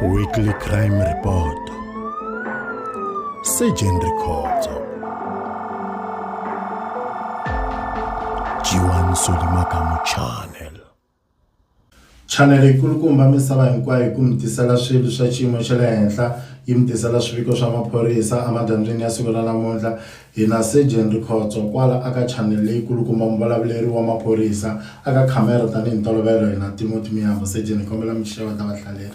Weekly Crime Report Surgeon Rikhotso Jiwan Solimakamu Channel chanele yikulukumba misava hinkwayo hi ku mi tisela swilo swa xiyimo xa le henhla yi mi tisela swiviko swa maphorisa emadyambyini ya siku ra namuntlha Hi na Sejeni Rikhotso kwala aka chanel leyi kulukumba muvulavuleri wa maphorisa aka khamera tani hi ntolovelo hi na Timothy Miyambo Sejeni hi kombela mi xeweta vahlaleri.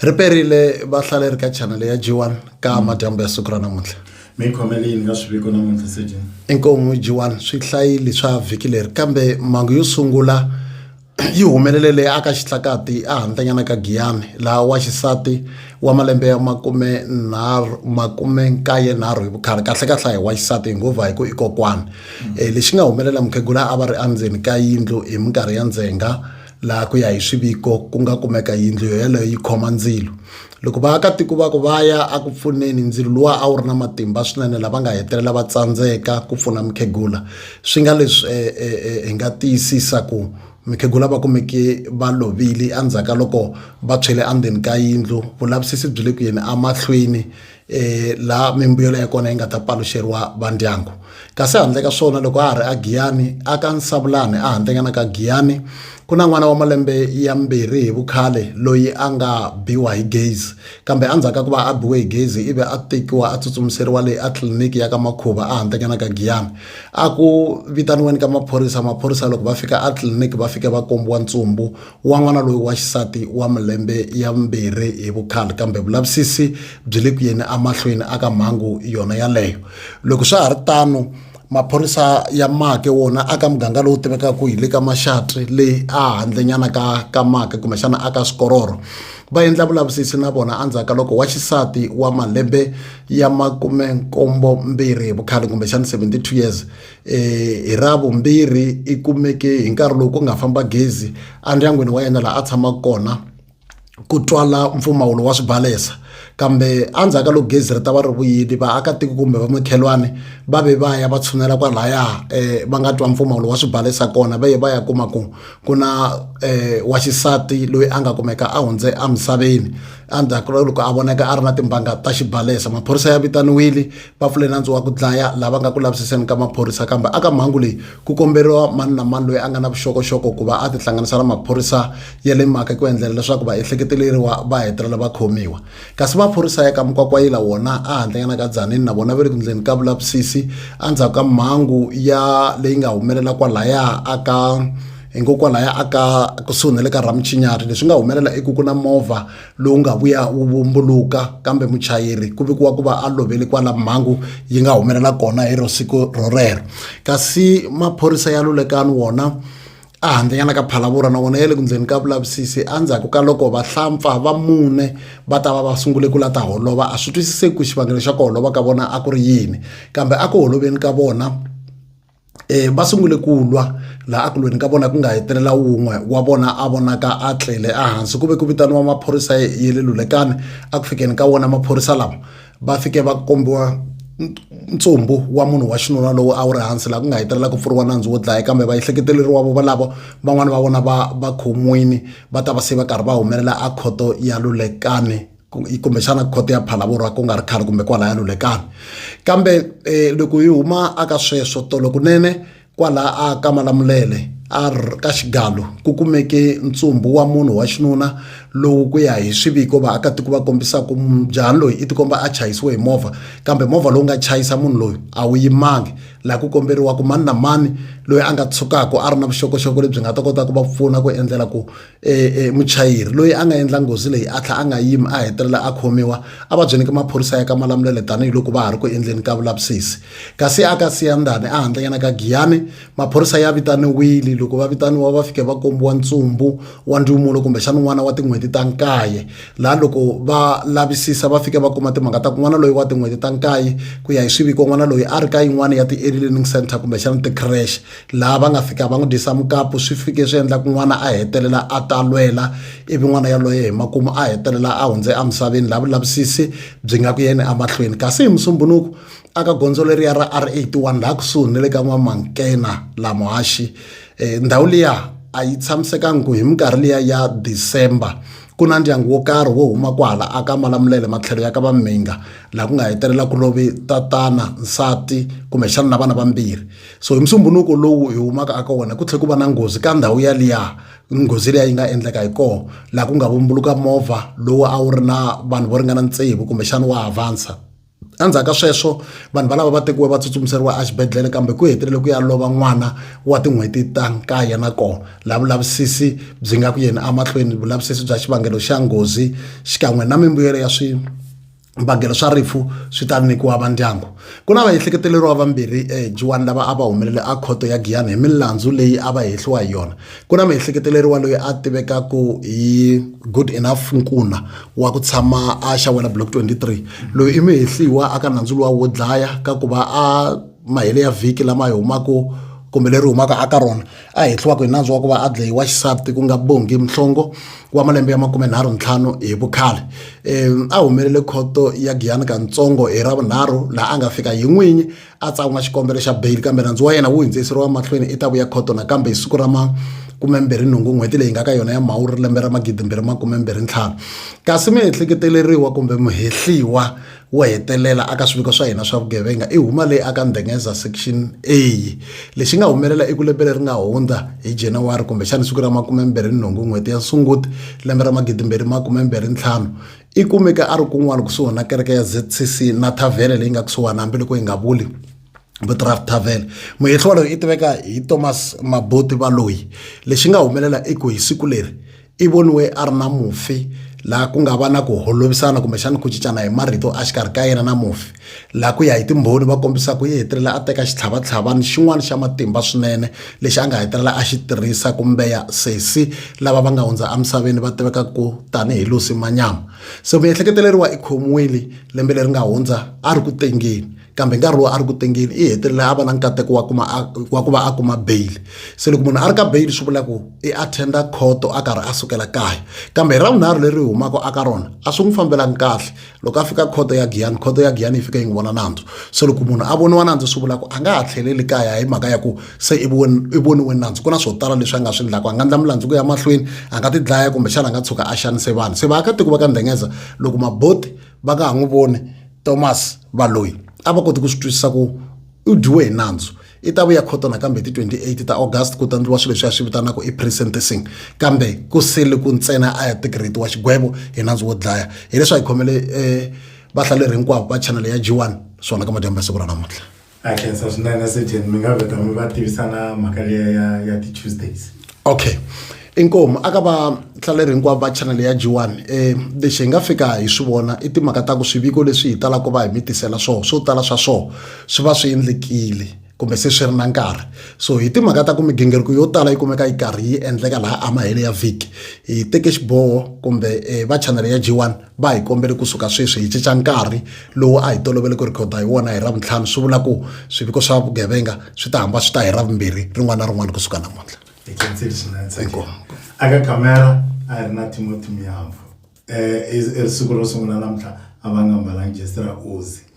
Ri perile vahlaleri ka chanel ya G1 ka madyambu ya siku ra namuntlha. Mi khomele yini ka swiviko namuntlha Sejeni? Inkomu G1 swi hlayili swa vhiki leri kambe mangu yo sungula. yi humelele leyi aka xitlakati ehantlanyana ka Giyani, laha waxisati wa malembe ya makume-nkaye-nharhu hi vukhale, kahle-kahle a hi waxisati, hi ngo va hi ku i kokwana, um lexi nga humelela mukhegula a va ri endzeni ka yindlu hi minkarhi ya ndzhenga, laha ku ya hi swiviko ku nga kumeka yindlu yoyaleyo yi khoma ndzilo. Loko vaakatiko va ku va ya eku pfuneni ndzilo luwa a wu ri na matimba swinene lava nga hetelela va tsandzeka ku pfuna mukhegula swi nga leswi eh, eh, eh, hi nga tiyisisa ku mukhegula va kumeke va lovile endzhaku ka loko va tshwele endzeni ka yindlu vulavisisi byi le ku yeni emahlweni um laha mimbuyelo ya kona yi nga ta paluxeriwa vandyangu kasi handle ka swona loko a ha ri agiyani a ka nsavulani a handlenyana ka giyani ku na n'wana wa malembe ya mbirhi hi vukhale loyi a nga biwa hi gezi kambe endzhaku ka ku va a biwe hi gezi ivi a tekiwa a tsutsumiseriwa leyi a tliliniki ya ka makhuva a handlenyana ka giyani a ku vitaniweni ka maphorisa maphorisa loko va fika a tliliniki va fike va kombiwa ntsumbu wa n'wana loyi wa xisati wa malembe ya vumbirhi hi vukhale kambe vulavisisi byi le ku yeni amahlweni aka mhangu yona yaleyo loko swa ha ri tano maphorisa ya make wona aka muganga lowu tivekaka hi le ka maxatri leyi a handlenyana ka ka make kumbexana aka swikororo va endla vulavisisi na vona endzhaku ka loko wa xisati wa malembe ya makume nkombo mbirhi hi vukhale kumbexana 72 years hi ra vumbirhi i kumeke hi nkarhi lowu ku nga famba gezi endyangwini wa yena laha a tshamaka kona ku twala mpfumawulo wa swibalesa kambe endzhaku ka loko gezi ri ta va ri vuyile vaakatiko kumbe va makhelwani va ve va ya va tshunela kwalaya um eh, va nga twa mpfumawulo wa swibalesa kona va ye va ya kuma ku ku na um wa xisati loyi a nga kumeka a hundze emisaveni endzhaku loko a vonaka a ri na timbanga ta xibalesa maphorisa ya vitaniwile va pfule nandzu wa ku dlaya lava nga ku lavisiseni ka maphorisa kambe aka mhangu leyi ku komberiwa mani na mani loyi a nga na vuxokoxoko ku va a tihlanganisa na maphorisa ya le mhaka ku endlela leswaku vaehleketeleriwa va hetelela va khomiwa kasi maphorisa ya ka mukwakwayila wona a handlenyana ka dzanini na vona va le ku ndleni ka vulavisisi endzhaku ka mhangu ya leyi nga humelela kwalaya aka hikokwalaho a ka kusuhi na le ka rhamuchinyari leswi nga humelela i ku ku na movha lowu nga vuya wu vumbuluka kambe muchayeri ku vikiwa ku va a lovele kwala mhangu yi nga humelela kona hi ro siku rorero kasi maphorisa ya lulekani wona a handzanyana ka phalavura na wona ya le ku ndzeni ka vulavisisi endzhaku ka loko vahlampfa va mune va ta va va sungule ku la ta holova a swi twisiseki ku xivangelo xa ku holova ka vona a ku ri yini kambe a ku holoveni ka vona um va sungule ku lwa laha a ku lweni ka vona ku nga hetelela wun'we wa vona a vonaka a tlele ehansi ku ve ku vitaniwa maphorisa ye le lulekani a ku fikeni ka wona maphorisa lama va fike va kombiwa ntsumbu wa munhu wa xinuna lowu a wu ri hansi laha ku nga hetelela ku pfuriwa nandzu wo dlaya kambe vaehleketeleriwa vo valavo van'wani va vona va va khomiwini va ta va se va karhi va humelela a khoto ya lulekani kumbexana khoto ya phalavurwa ku nga ri khale kumbe kwalaya lulekani kambe um loko hi huma aka sweswo tolo kunene kwalaha a ka malamulele a ka xigalo ku kumeke ntsumbu wa munhu wa xinuna lowu ku ya hi swiviko vaakatiko va kombisaka njhani loyi i tikomba a chayisiwe hi movha kambe movha lowu nga chayisa munhu loyi a wu yimangi laha ku komberiwaka mani na mani loyi a nga tshukaka a ri na vuxokoxoko lebyi nga ta kota ku va pfuna ku endlela ku e, e, muchayeri loyi a nga endla nghozi leyi a tlha a nga yimi a hetelela a khomiwa a va byeleke maphorisa ya ka malamulele tanihiloko va ha ri ku endleni ka vulavisisi kasi a ka siyandani a handlenyana ka giyani maphorisa ya vitaniwile loko va vitaniwa va fike va kombiwa ntsumbu wa ndlumulo kumbexana n'wana wa tin'hweti ta nkaye laha loko va lavisisa va fike va kuma timhaka ta ku n'wana loyi wa tin'hweti ta nkaye ku ya hi swiviko n'wana loyi a ri ka yin'wana ya ti-early learning center kumbexana ti-crash laha va nga fika va n'wi dyisa mukapu swi fike swi endla ku n'wana a hetelela a talwela ivi n'wana yaloye hi makumu a hetelela a hundze emisaveni laha vulavisisi byi nga ku yeni emahlweni kasi hi musumbunuku aka gondzo leriya ra r 81 laha kusuhi ni le ka n'wamankena la muhaxi eh, ndhawu liya a yi tshamisekangi ku hi minkarhi liya ya december ku na ndyangu wo karhi wo huma kwahala a ka malamulele matlhelo ya ka vamhinga laha ku nga hetelela ku lovi tatana nsati kumbexana na vana vambirhi so hi musumbunuko lowu hi humaka aka wona ku tlhe ku va na nghozi ka ndhawu yaliya nghozi leyi yi nga endleka hi koho laha ku nga vumbuluka movha lowu a wu ri na vanhu vo ringana ntsevu kumbexana wa havansa endzhaku ka sweswo vanhu valava va tekiwe va tsutsumiseriwa exibedhlele kambe ku hetelele ku ya lova n'wana wa tin'hweti ta nkaye na kona laha vulavisisi byi nga ku yeni emahlweni vulavisisi bya xivangelo xa nghozi xikan'we na mimbuyelo ya swi vangelo swa rifu swi ta nyikiwa vandyangu ku na vaehleketeleriwa vambirhi ejiwani eh, lava a va humelele a khoto ya giyani hi milandzu leyi a va hehliwa hi yona ku na miehleketeleriwa loyi a tivekaku hi good enough nkuna wa ku tshama a xawela block 23 loyi i mihehliwa aka nandzu luwa wo dlaya ka ku va a mahele ya vhiki lama yi humaka kumbe leri humaka aka rona a hehliwaka hi nandzu wa ku va a dlayiwa xisati ku nga bongi mhlongo wa malembe ya makume nharhu ntlhanu hi vukhale um a humelele khoto ya giyani kantsongo hi ravunharhu laha a nga fika hi n'winyi a tsan'wa xikombelo xa beyili kambe nandzu wa yena wu hindziseriwa mahlweni i ta vuya khoto nakambe hi siku ra ma kumembirhi nhungu n'hweti leyi nga ka yona ya mhawuri lembe ra magidimbirhi makumembirhi ntlhanu kasi muehleketeleriwa kumbe muhehliwa wo hetelela aka swiviko swa hina swa vugevenga i huma leyi aka ndhengeza section a lexi nga humelela eku lembe leri nga hundza hi januwari kumbexana siku ra makumembirhi nhungu n'hweti ya sunguti lembe ra magidimbirhi makumembirhi ntlhanu i kumeka a ri kun'wana kusuhi na kereke ya zcc na thavhele leyi nga kusuhani hambiloko yi nga vuli vutraf tavele muyehliwa loyi i tiveka hi thomas mabuti valoyi lexi nga humelela i ku hi siku leri i voniwe a ri na mufi laha ku nga va na ku holovisana kumbexana ku cincana hi marito a xikarhi ka yena na mufi laha ku ya hi timbhoni va kombisa ku yi hetelela a teka xitlhavatlhavani xin'wana xa matimba swinene lexi a nga hetelela a xi tirhisa kumbeya sesi lava va nga hundza emisaveni va tiveka ku tanihi lusi manyama se miehleketeleriwa i khomiwile lembe leri nga hundza a ri ku tengeni kambe nkarhi lowu a ri ku tengeni i hetelela a va na nkateko wa kuma wa ku va a kuma bail se loko munhu a ri ka bail swi vula ku i attenda khoto a karhi a sukela kaya kambe hi ravunharhu leri humaka aka rona a swi n'wi fambelangi kahle loko a fika khoto ya giyani khoto ya giyani yi fika yi n'wi vona nandzu se loko munhu a voniwa nandzu swi vula ku a nga ha tlheleli kaya hi mhaka ya ku se i voniwe nandzu ku na swo tala leswi a nga swi ndlaka a nga ndla milandzu ku ya mahlweni a nga ti dlaya kumbexana a nga tshuka a xanise vanhu se vaakatiko va ka ndengeza loko maboti va nga ha n'wi voni Thomas Baloyi a va koti ku swi twisisa ku u dyiwe hi nandzu i ta vuya khoto nakambe hi ti 28 ta August ku ta ndliwa swilo leswi a swi vitanaka i pre-sentencing kambe ku sele ku ntsena a ya tigretiwa xigwevo hi nandzu wo dlaya hileswi a hi khomele um vahlaleri hinkwavo va chanele ya G1 swona ka madyambu ya siku ra namuntlha ha khensa swinene sejeni mi nga vheta mi va tivisa na mhaka leya ya ya ti-tuesdays okay inkomu aka vahlaleri hinkwavo va chanele ya jiwani um eh, lexi hi nga fika hi swi vona i timhaka ta ku swiviko leswi hi talaka va hi mi tisela swona swo tala swa swona swi va swi endlekile kumbe se swi ri na nkarhi so hi timhaka ta ku migingiriko yo tala yi kumeka yi karhi yi endleka laha amahele ya vhiki hi teke xiboho kumbe um va chanele ya jiwani va hi kombele kusuka sweswi hi cinca nkarhi lowu a hi tolovele ku rhikhoda hi wona hi ravuntlhanu swi vula ku swiviko swa vugevenga swi ta hamba swi ta hi ravumbirhi rin'wana na rin'wana kusuka namuntlha hi khensile swinene tsakile aka kamera a hi ri na timoti miyamvu um eh, i ri siku ro sungula namuntlha a va nga mbalangi jesi ra ozi